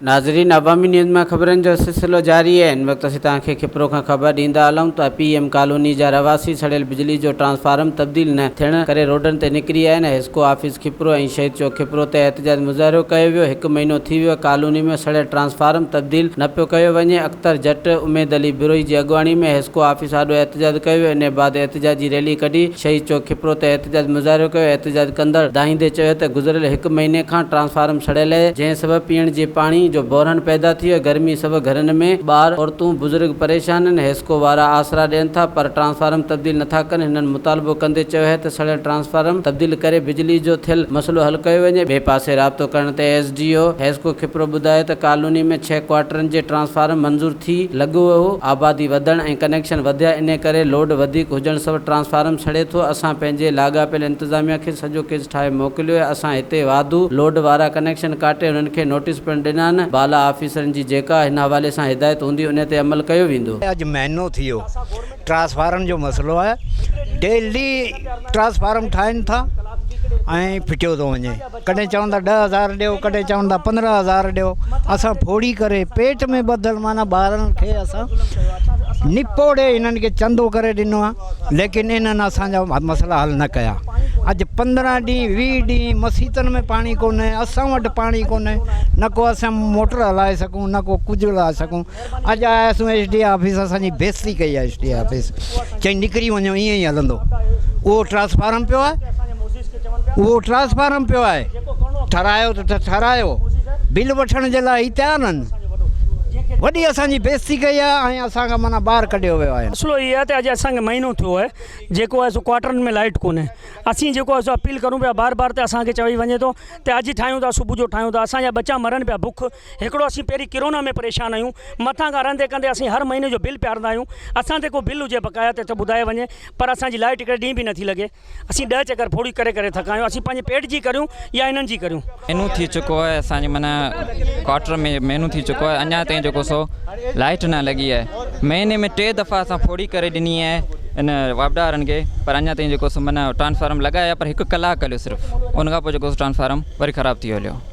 ناظرين عوامي نيوز مان خبرن جو سلسلو جاري آهي هن وقت اسين توهان کي کپرو کان خبر ڏيندا هلون ته پي ايم ڪالوني جا رهواسي سڙيل بجلي جو ٽرانسفارم تبديل نه ٿيڻ ڪري روڊن تي نڪري آيا آهن حسڪو آفيس کپرو ۽ شهيد چوڪ کپرو تي احتجاج مظاهرو ڪيو ويو هڪ مهينو ٿي ويو ڪالوني ۾ سڙيل ٽرانسفارم تبديل نه پيو ڪيو وڃي اختر جٽ اميد علي بروهي جي اڳواڻي ۾ حسڪو آفيس سان آڏو احتجاج ڪيو ويو انهي بعد احتجاجي ريلي ڪڍي شهيد چوڪ کپرو تي احتجاج مظاهرو ڪيو احتجاج ڪندڙ دانهيندي چيو ته گذريل هڪ مهيني کان ٽرانسفارم سڙيل اهي جنهن سبب پيئڻ جي پاڻي جو بحران پيدا ٿي ويو آهي گرمي سبب گهرن ۾ ٻار عورتون بزرگ پريشان آهن حيسڪو وارا آسرا ڏين ٿا پر ٽرانسفارم تبديل نٿا ڪن هنن مطالبو ڪندي چيو اهي ته سڙيل ٽرانسفارم تبديل ڪري بجلي جو ٿيل مسئلو حل ڪيو وڃي ٻئي پاسي رابطو ڪرڻ تي S D O HESCO Khipro ٻڌايو ته ڪالوني ۾ ڇهه ڪوارٽرن جي ٽرانسفارم منظور ٿي لڳو ويو، آبادي وڌڻ ۽ ڪنيڪشن وڌيا انهي ڪري لوڊ وڌيڪ هجڻ سبب ٽرانسفارم سڙي ٿو، اسان پنهنجي لاڳاپيل انتظاميا کي سڄو ڪيس ٺاهي موڪليو اهي، اسان هتي واڌو لوڊ وارا ڪنيڪشن ڪاٽي انهن کي نوٽيس پڻ ڏنا آهن، بالا آفيسرن جي جيڪا هن حوالي سان هدايت هوندي انهي تي عمل ڪيو ويندو. اڄ مهينو ٿي ويو ٽرانسفارم جو مسئلو آهي، ڊيلي ٽرانسفارم ٺاهين ٿا ۽ ڦٽيو ٿو وڃي. ڪڏهن چون ٿا ڏهه هزار ڏيو ڪڏهن چون ٿا پندرهن هزار ڏيو اسان ڦوڙي ڪري پيٽ ۾ ٻڌل معنيٰ ٻارن کي اسان نپوڙي انهن کي چندو ڪري ڏنو آهي ليڪن انهن اسان جا مسئلا حل نه ڪيا اڄ پندرهن ڏينهن ويهه ڏينهن مسيتن ۾ پاڻي ڪونهي اسان وٽ پاڻي ڪونهي نه ڪو اسان موٽر هلائي سگهون نه ڪو ڪجهه هلائي سگهون اڄ آيا سون ايس ڊي اي آفيس اسان جي بيستي ڪئي ايس ڊي اي آفيس چئي نڪري وڃو ائين ئي هلندو اهو ٽرانسفارم پيو آهي اهو ٽرانسفارم پيو آهي ٺهرايو ته ٺهرايو بل وٺڻ جي لاء هي تيار آهن وڏي اسان جي بيستي ڪئي آهي ۽ اسان کان مانا ٻاهر ڪڍيو ويو آهي مسئلو هي آهي ته اڄ اسان کي مهينو ٿيو آهي جيڪو آهي سو ڪوارٽرن ۾ لائٽ ڪونهي اسين جيڪو آهي سو اپيل ڪرون پيا بار بار ته اسان کي چوي وڃي ٿو ته اڄ ٺاهيون ٿا صبح جو ٺاهيون ٿا اسان جا ٻچا مرن پيا بک هڪڙو اسين پهرين ڪرونا ۾ پريشان آهيون مٿان کان رهندي ڪندي اسين هر مهيني جو بل پيارندا آهيون اسان تي ڪو بل هجي بقايا ته ٻڌايو وڃي پر اسان جي لائٽ هڪڙي ڏينهن به نٿي لڳي اسين ڏهه چڪر ڦوڙي ڪري ڪري ٿڪا آهيون اسين پنهنجي پيٽ جي ڪريون يا هنن جي ڪريون. مھينو ٿي چڪو آھي اسان جي معنيٰ ڪواٽر ۾ مھينو ٿي چڪو آھي اڃا تائين جيڪو سو لائٽ نه لڳي آھي مھيني ۾ ٽي دفعا اسان ڦوڙي ڪري ڏني آھي ان واپڊا وارن کي پر اڃا تائين جيڪو سو معنيٰ ٽرانسفارم لڳايا پر ھڪ ڪلاڪ ھليو صرف ان کان پوء جيڪو سو ٽرانسفارم وري خراب ٿي ويو ھليو